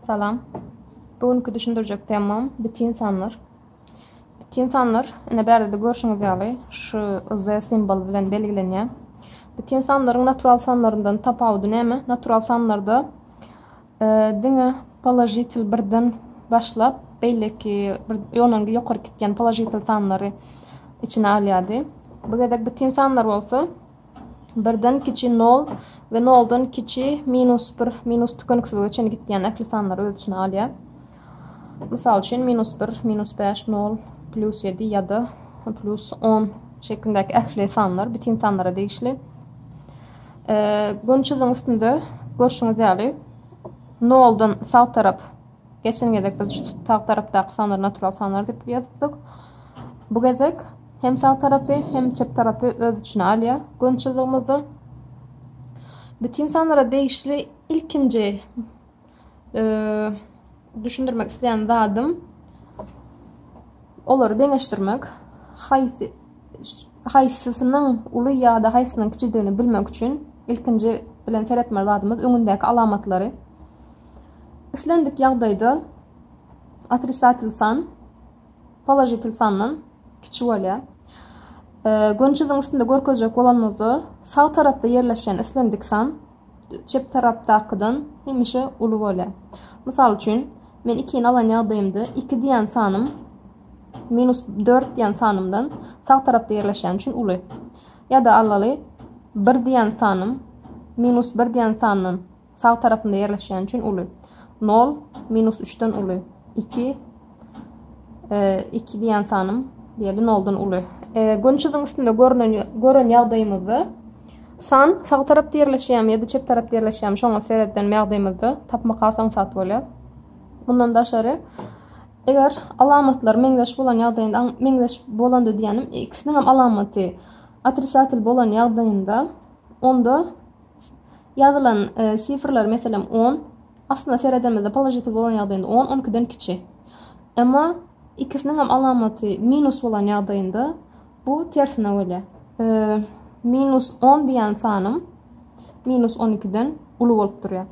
Salam. Bu günki düşündirjek temam bitin sanlar. Bitin sanlar, ine bärde-de görşüňiz ýaly, şu Z simboly bilen belgilenýär. Bitin sanlaryň natural sanlaryndan tapawudy näme? Natural sanlarda e, diňe položitel birden başlap, beýleki bir ýonangy ýokary gitýän položitel sanlary içine alýardy. Bu gezek bitin sanlar bolsa, Birden kiçi nol we noldan kiçi minus bir, minus tükeniksizlige çenli gitýän ähli sanlary öz içine alýar. Mysal üçin, minus bir, minus bäş, nol, plus ýedi ýa-da plus on şeklindäki ähli sanlar bitin sanlara degişli. Gün çyzygyň üstünde görşüňiz ýaly, noldan sag tarap Geçen gezek biz şu sag tarapdaky sanary natural sanar diýip ýazypdyk. Bu gezek hem sag tarapy, hem çep tarapy öz içine alýar. Gön çyzygymyzda bütin sanara degişli ilkinji düşündirmek isleýän zadym olary deňeşdirmek. Haýsy haýsysynyň uly ýa-da haýsynyň kiçidigini bilmek üçin ilkinji bilen seretmeli zadymyz öňündäki alamatlary. Islendik ýagdaýda otrisatel san položitel sandan kiçi bolýar. Gönçüziň üstünde görkezjek bolanymyzda sag tarapda ýerleşýän islendik san çep tarapdakydan hemişe uly bolýar. Mysal üçin, men 2 ni alan ýagdaýymda 2 diýen sanym minus 4 diýen sanymdan sag tarapda ýerleşýän üçin uly. Ýa-da alaly 1 diýen sanym minus 1 diýen sandan Sag tarapynda ýerleşýäni üçin uly. Nol minus üçden uly. Iki, e, iki diýen sanym diýeli noldan uly. E, gün çyzyň üstünde görünen, gören ýagdaýymyzda san sag tarapda ýerleşýärmi ýa-da çep tarapda ýerleşýärmi şoňa sereden ýagdaýymyzda tapmak asan sat bolýar. Mundan daşary eger alamatlar meňzeş bolan ýagdaýynda meňzeş bolanda diýýänim ikisiniň hem alamaty otrisatel bolan ýagdaýynda onda Ýazylan sifrler, meselem, on, aslynda seredenimizde položitiw bolan ýagdaýynda on on ikiden kiçi. Emma ikisiniňem alamaty minus bolan ýagdaýynda bu tersine bolýar. Minus on diýen sanym minus on ikiden uly bolup durýar.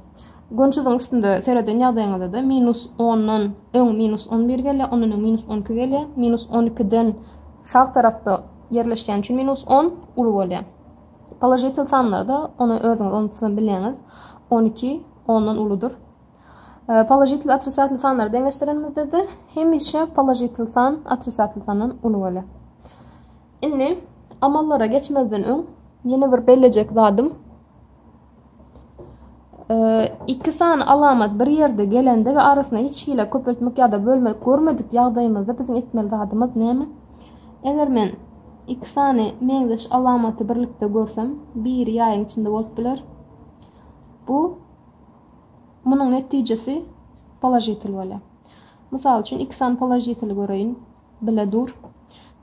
Gönçüziň üstünde sereden ýagdaýyňyzda-da minus ondan öň minus on bir gelýär, ondan öň minus on iki gelýär. Minus on ikiden sag tarapda ýerleşýän üçin minus on uly bolýar. Položitel sanlarda ony özüňiz unutsa bileňiz. 12 ondan uludyr. E, položitel otrisatel sanlar deňeşdirenimizde-de hemişe položitel san otrisatel sandan uly bolýar. Indi amallara geçmezden öň ýene bir bellejek zadym iki sany alamat bir ýerde gelende we arasyna hiç hili köpeltmek ýa-da bölmek görmedik ýagdaýymyzda biziň etmeli zadymyz näme? Eger men iki sany meňzeş alamaty birlikde görsem, biri ýaýyň içinde bolup biler. Bu munuň netijesi položitel bolýar. Mysal üçin iki sany položiteli göreýin. Bile dur.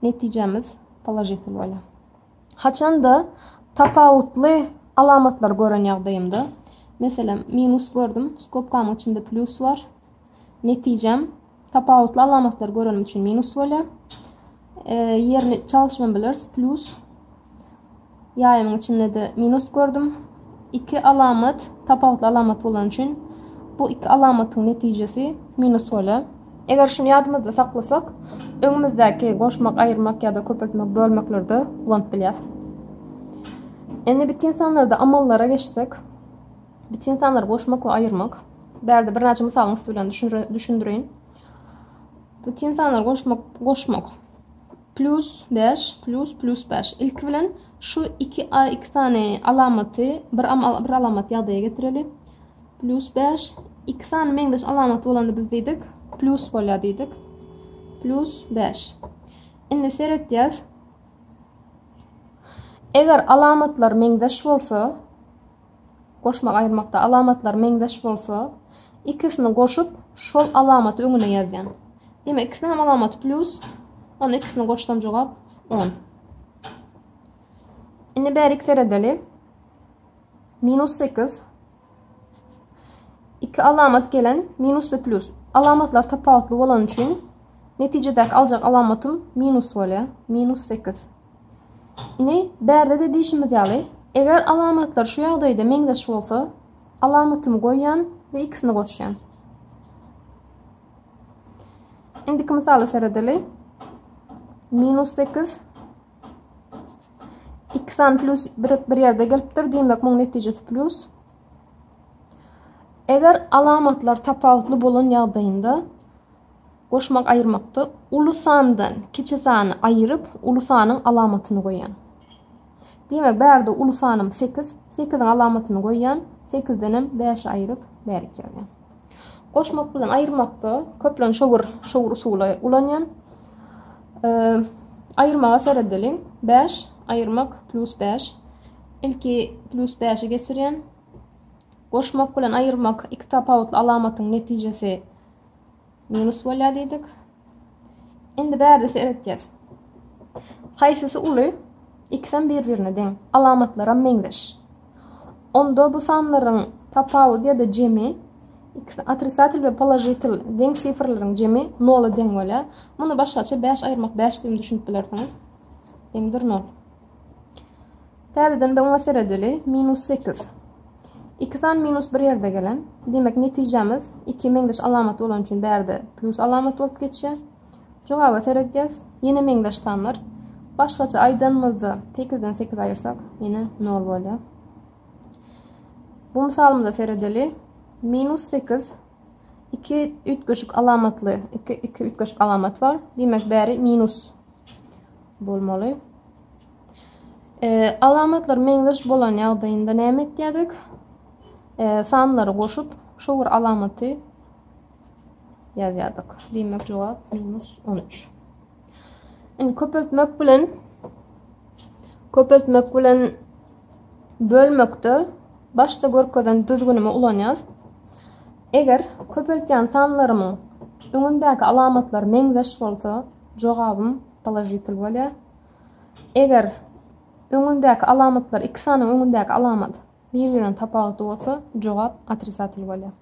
Netijemiz položitel bolýar. Haçanda tapawutly alamatlary gören ýagdaýymda, meselem, minus gördüm, skobkamyň içinde plýus bar. Netijem tapawutly alamatlary görenim üçin minus bolýar. E, ýerini çalyşman bilers, plýus. Ýaýymyň içinde-de minus gördüm. Iki alamat tapawutly alamat bolany üçin bu iki alamatyň netijesi minus bolýar. Eger şuny ýadymyzda saklasak, öňümizdäki goşmak, aýyrmak ýa-da köpeltmek, bölmeklerde ulanyp bilýäris. Indi bitin sanlarda amallara geçsek, bitin sanlary goşmak we aýyrmak. Bärde birnäçe mysalyň üsti bilen düşündireýin. Bitin sanlary goşmak, goşmak. Plýus bäş, plýus, plýus bäş. Ilki bilen şu iki a, iki sany alamaty bir am, bir alamat ýagdaýa getireli. Plýus bäş, iki sany meňzeş alamat bolanda biz diýdik, plýus bolýar diýdik. Plýus bäş. Indi seretýäs. Eger alamatlar meňzeş bolsa, Goşmak aýyrmakda alamatlary meňzeş bolsa, ikisini goşup, şol alamaty öňüne ýazýaň. Diýmek, ikisiniň hem alamaty plýus. Onda ikisini goşsam jogap 10. Indi bärik seredeli. Minus 8. Iki alamat gelen minus ve plus. Alamatlar tapawutly bolan üçin netijedäki aljak alamatym minus bolýar. Minus 8. Indi bärde-de diýşimiz ýaly, eger alamatlar şu ýagdaýda meňzeş bolsa, alamatymy goýýan we ikisini goşýan. Indiki mysala seredeli. Minus 8 2 san plus bir, bir ýerde gelipdir. Diýmek, muň netijesi plus. Eger alamatlar tapawutly bolan ýagdaýynda Goşmak-aýyrmakda uly sandan kiçi sany aýyryp, uly sanyň alamatyny goýan. Diýmek, bärde uly sanym sekiz, sekiziň alamatyny goýan, sekizdenem bäşi aýyryp, bärik ýazýan. Goşmak bilen aýyrmakda köplenç şowur, şowur usuly ulanýan. Aýyrmaga seredeliň. Bäş aýyrmak plus bäş. Ilki plus bäşi geçirýän. Goşmak bilen aýyrmak iki tapawutly alamatyň netijesi Minus bolýar diýdik. Indi bärdesi öwretýäs. Haýsysy uly? Ikisem bir-birine deň, alamatlaram meňzeş. Onda bu sanlaryň tapawudy ýa-da jemi ikisi otrisatel we položitel deň sifrlaryň jemi 0 deň bolýar. Muny başgaça 5 aýyrmak 5 diýip düşünip bilersiňiz. Deňdir 0. Täzeden bir oňa seredeli. Minus sekiz. Iki san minus bir ýerde gelen. Demek, netijämiz iki meňzeş alamat bolan üçin bärde plus alamat bolup geçýär. Jogaba seredýäs. Ýene meňzeş sanlar. Başgaça aýdanymyzda 8-den 8 aýyrsak, ýene 0 bolýar. Bu misalymyza seredeli. Minus 8 iki üýtgeşik alamatly, iki, iki üýtgeşik alamat bar. Demek, bäri minus bolmaly. Alamatlar meňzeş bolan ýagdaýynda näme etýärdik? Sanlary goşup, şu bir alamaty ýazýardyk. Diýmek jogap minus 13. Indi köpeltmek bilen köpeltmek bilen bölmekde başda görkezen düzgünimi ulanýas. Eger köpeltýän sanlarymyň öňündäki alamatlar meňzeş bolsa, jogabym položitel bolýar. Eger öňündäki alamatlar, iki sanyň öňündäki alamat bir-birinden tapawutly bolsa, jogap otrisatel bolýar.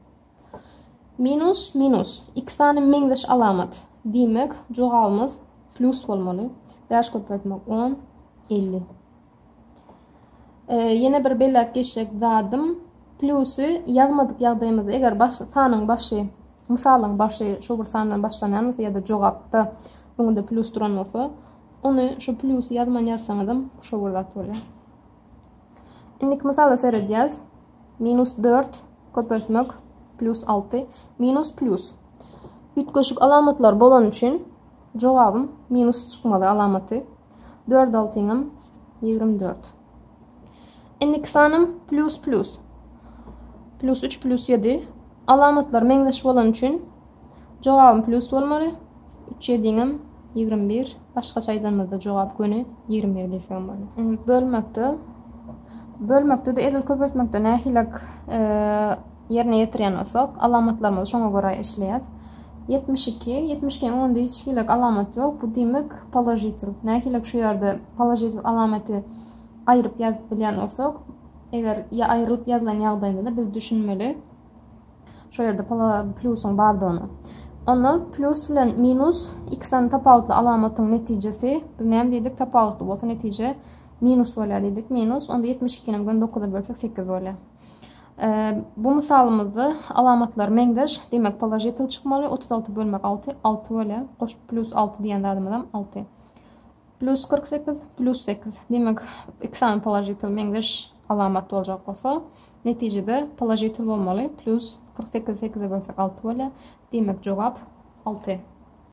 Minus, minus. Iki sany meňzeş alamat. Diýmek, jogabymyz plus bolmaly. 5 köpeltmek 10, 50. E, ýene bir belläp geçjek zadym plusy ýazmadyk ýagdaýymyzda eger baş sanyň başy mysalyň başy şu bir sandan başlanýan bolsa ýa-da jogapda öňünde plus duran bolsa ony şu plusy ýazman ýazsaňyzam şu bir zat bolýar. Indiki mysala seredýäs. Minus 4 köpeltmek plus 6 minus plus. Üýtgeşik alamatlar bolan üçin jogabym minus çykmaly alamaty. Dört altyňym ýigrimi dört. Indiki sanym plus plus. Plus üç plus ýedi. Alamatlar meňzeş bolan üçin jogabym plus bolmaly. Üç ýediňim ýigrimi bir. Başgaça aýdanymyzda jogap göni ýigrimi bir diýsegem bolar. Bölmekde bölmekde-de edil köpeltmekde nähilek e, ýerine ýetirýän bolsak, alamatlarymyzy şoňa görä işleýäs. Ýetmiş iki, ýetmiş ikiň öňünde hiç hili alamat ýok, bu diýmek položitel. Nähilek şu ýerde položitel alamaty aýryp ýazyp bilýän bolsak, eger ýa aýrylyp ýazylan ýagdaýynda-da biz düşünmeli şu ýerde plýusyň bardygyny. Onda plýus bilen minus iki sany tapawutly alamatyň netijesi, biz näme diýdik, tapawutly bolsa netije minus bolýar diýdik, minus, onda ýetmiş ikini bilen dokuzy bölsek sekiz bolýar. Bu mysalymyzda alamatlary meňzeş, demek položitel çykmaly, otuz alty bölmek alty, alty bölä, goşup pljus alty diýen zadymyzam alty. Pljus kyrk sekiz, pljus sekiz, demek iki sany položitel meňzeş alamat boljak bolsa, netijede položitel bolmaly, pljus kyrk sekizi sekize bölsek alty bölä, demek jogap alty.